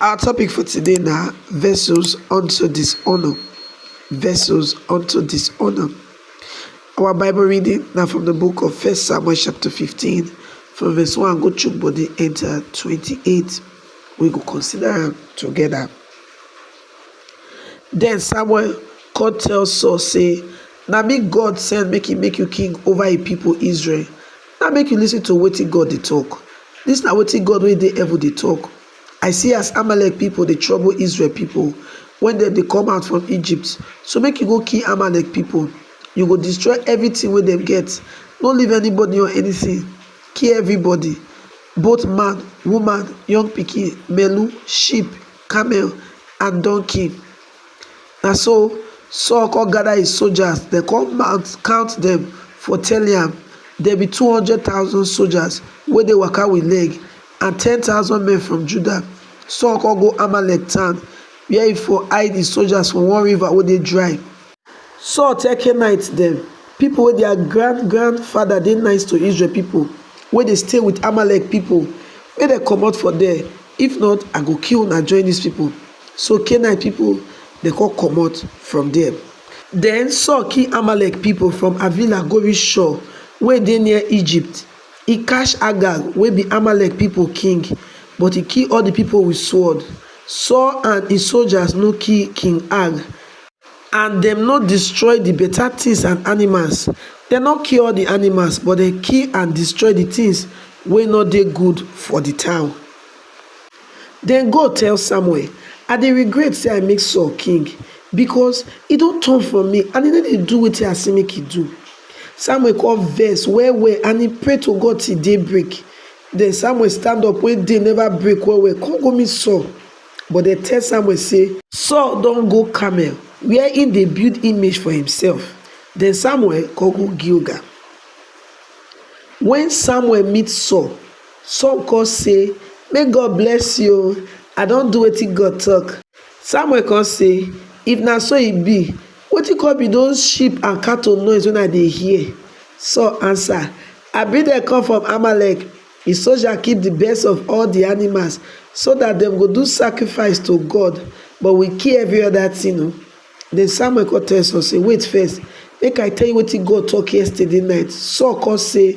Our topic for today na vessels unto dishonour, vessels unto dishonour. Our Bible reading na from the book of First Samuel chapter 15 from verse 1 go chook body enter 28. We go consider am together. Then Samuel come tell Saul say, Na me God send make he make you king over a people Israel. Now make you listen to wetin God dey talk. This na wetin God wey dey heaven dey talk. I see as Amalek pipo dey trouble Israel pipo wen dem dey come out from Egypt, so make you go kill Amalek pipo. You go destroy evritin wey dem get, no leave anybody or anytin, kill evribody, both man, woman, young pikin, melu, sheep, camel, and donkey. Na so Saul come gada his sojas, dem come mount count dem for Teliam, dem be two hundred thousand sojas wey dey waka wit leg, and ten thousand men from Judah. Saul come go Amalek town, where he for hide his soldiers for one river wey dey dry. Saul tell Canaanites dem, people wey their grand grandfather dey nice to Israel people, wey dey stay with Amalek people, make dem comot for there, if not I go kill una join these people. So Canaanite people dem come comot from there. Then Saul kill Amalek people from Havilah go reach Shur wey dey near Egypt. E catch Agag wey be Amalek pipo king, but e kill all di pipo wit sword. Saul and im sojas no kill King Ag, and dem no distroy di beta tins and animals. Dem no kill all di animals, but dem kill and distroy di tins wey no dey good for di town. Den God tell Samuel, I dey regret say I make Saul king, because he don turn from me and he no dey do wetin I say make he do. Samuel come vex well well and he pray to God till day break. Then Samuel stand up when day never break well well come go meet Saul. But dem tell Samuel say, Saul don go Carmel where he dey build image for himself. Then Samuel come go Gilgal. When Samuel meet Saul, Saul kon sey, Make God bless yu o, I don do wetin God tok. Samuel kon sey, If na so e bi, wetin kon bi doz sheep and cattle noise wey I dey hear? Saul ansa, I bring dem kom from Amalek. Di soja keep di best of all di animals, so dat dem go do sakrifise to God, but wi kill evri oda tin o. Den Samuel kon tell Saul sey, Wait first, make I tell yu wetin God tok yestaday nite. Saul kon sey.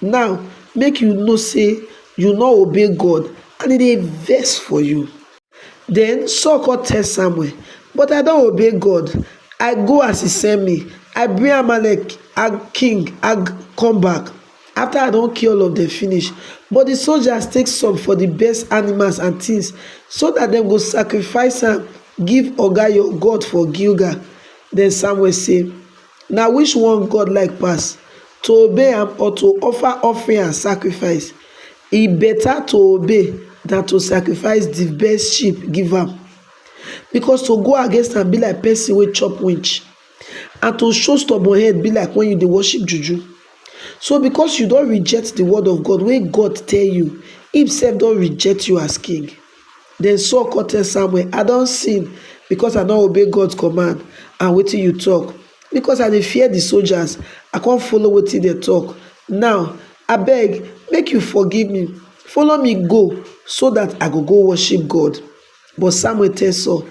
Now make you know say you no obey God and e dey vex for you. Then Saul come tell Samuel, But I don obey God. I go as he send me. I bring Amalek king Ag come back after I don kill all of them finish. But the soldiers take some for the best animals and things so that dem go sacrifice am give Oga your God for Gilgal. Then Samuel say, Na which one God like pass, to obey am or to offer offering and sacrifice? E better to obey than to sacrifice the best sheep give am. Because to go against am be like person wey chop winch, and to show stubborn head be like when you dey worship juju. So because you don reject the word of God wey God tell you, him sef don reject you as king. Den Saul come tell Samuel, I don sin because I no obey God command and wetin you talk. Because I dey fear the soldiers, I come follow wetin dem talk. Now, abeg, make you forgive me. Follow me go so that I go go worship God. But Samuel tell Saul,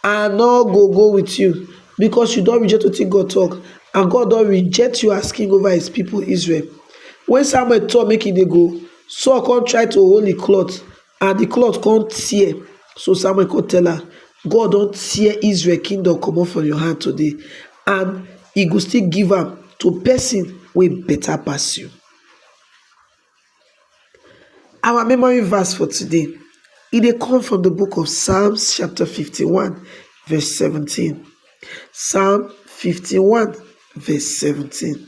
I no go go with you because you don reject wetin God talk and God don reject you as king over his people Israel. When Samuel talk make he dey go, Saul come try to hold him cloth And di cloth kon tear, so Samuel kon tell am, God don tear Israel kingdom komot from your hand today, and e go still give am to person wey better pass you. Our memory verse for today, e dey come from di book of Psalms chapter fifty one verse seventeen, Psalm fifty one verse seventeen.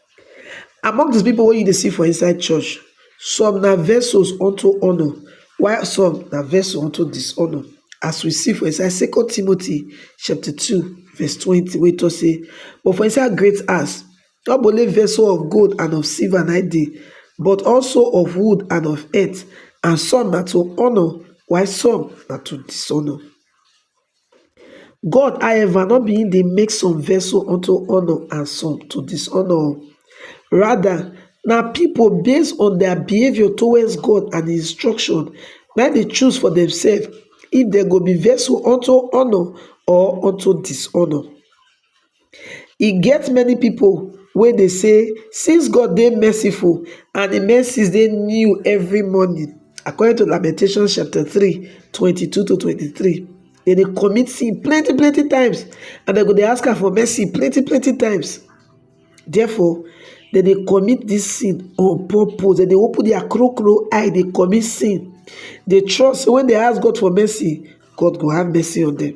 Among di pipo wey you dey see for inside church, some na vessels unto honour while some na vessels unto dishonour as we see for inside second Timothy chapter two verse twenty wey talk say but for inside great house no be only vessel of gold and of silver na dey but also of wood and of earth and some na to honour while some na to dishonour. God however no be im dey make some vessel unto honour and some to dishonour o, rather na people based on their behaviour towards God and instruction na im dey choose for themselves if dem go be vessel unto honour or unto dishonour. e get many pipo wey dey say since god dey merciful and im mercies dey new evri morning according to lamentations chapter three twenty two to twenty three dem dey commit sin plenti plenti times and dem go dey ask am for mercy plenti plenti times therefore dem dey commit dis sin on purpose dem dey open dia kro kro eye dey commit sin dey trust say wen dem ask god for mercy god go have mercy on dem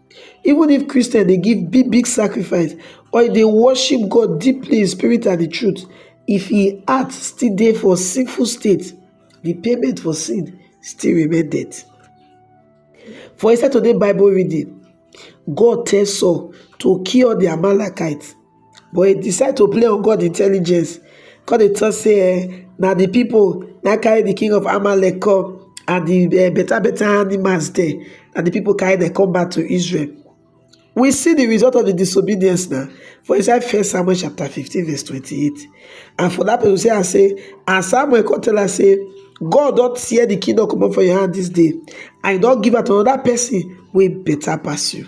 Even if Christians dey give big big sacrifice or e dey worship God deeply in spirit and in truth, if im heart still dey for sinful state, the payment for sin still remain death. For inside today Bible reading, God tell Saul to kill all the Amalekites. But he decide to play on God intelligence, come dey talk say eh, na the people na carry the king of Amalek come and the eh, better better animals there, and the people carry them come back to Israel. We see the result of the disobedience now for inside First Samuel chapter 15, verse 28. And for that person say, I say, and Samuel come tell her, say, God don't tear the kingdom come up for your hand this day, and don't give her to another person way better pass you.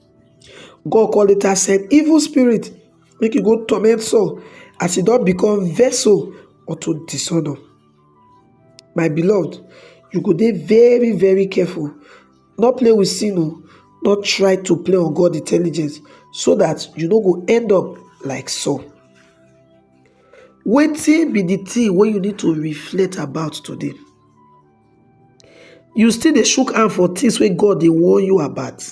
God come later send evil spirit make e go torment Saul as e don become vessel unto dishonor. My beloved, you go dey very very careful. No play with sin o. Oh. No try to play on God intelligence so that you no go end up like Saul. Wetin be the thing wey you need to reflect about today? You still dey shook hand for things wey God dey warn you about?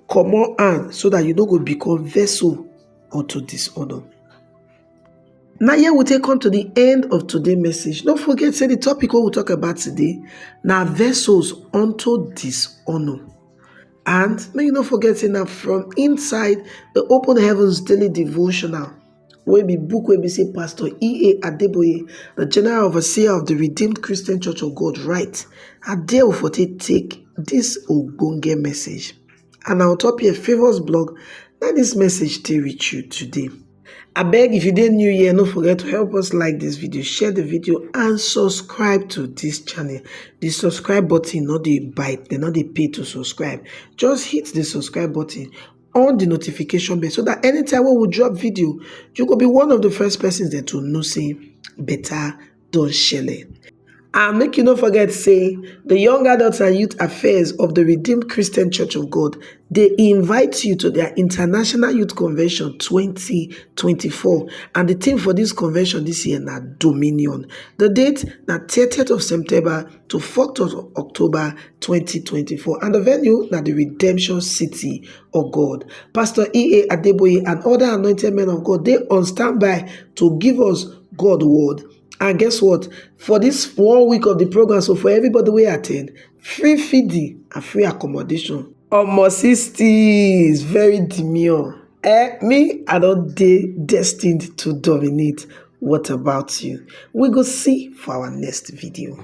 Comot hand so that you no go become vessel unto dishonour. Na here we take come to the end of today message. No forget say the topic wey we talk about today na vessels unto dishonour. And make you no forget say na from inside the Open Heavens Daily Devotional wey be book wey be say Pastor E.A. Adeboye, the General Overseer of the Redeemed Christian Church of God write, na there we for take take this ogbonge message. And na on top here Favours blog na this message take reach you today. Abeg if you dey new here, no forget to help us like this video, share the video and subscribe to this channel. The subscribe button no dey bite, dem no dey pay to subscribe. Just hit the subscribe button on the notification bell so that anytime when we drop video you go be one of the first persons there to know say better don shele and make you no forget say the young adults and youth affairs of the redeemed christian church of god they invite you to their international youth convention 2024 and the theme for this convention this year na dominion the date na 30th of september to fourth of october twenty twenty four and di venue na di redemption city of god pastor ea adeboye and oda anointed men of god dey on standby to give us god word and guess what for dis one week of di programme so for everybody wey at ten d free feeding and free accommodation omo sixties very demure. Eh me I don dey destined to dominate what about you? We go see for our next video.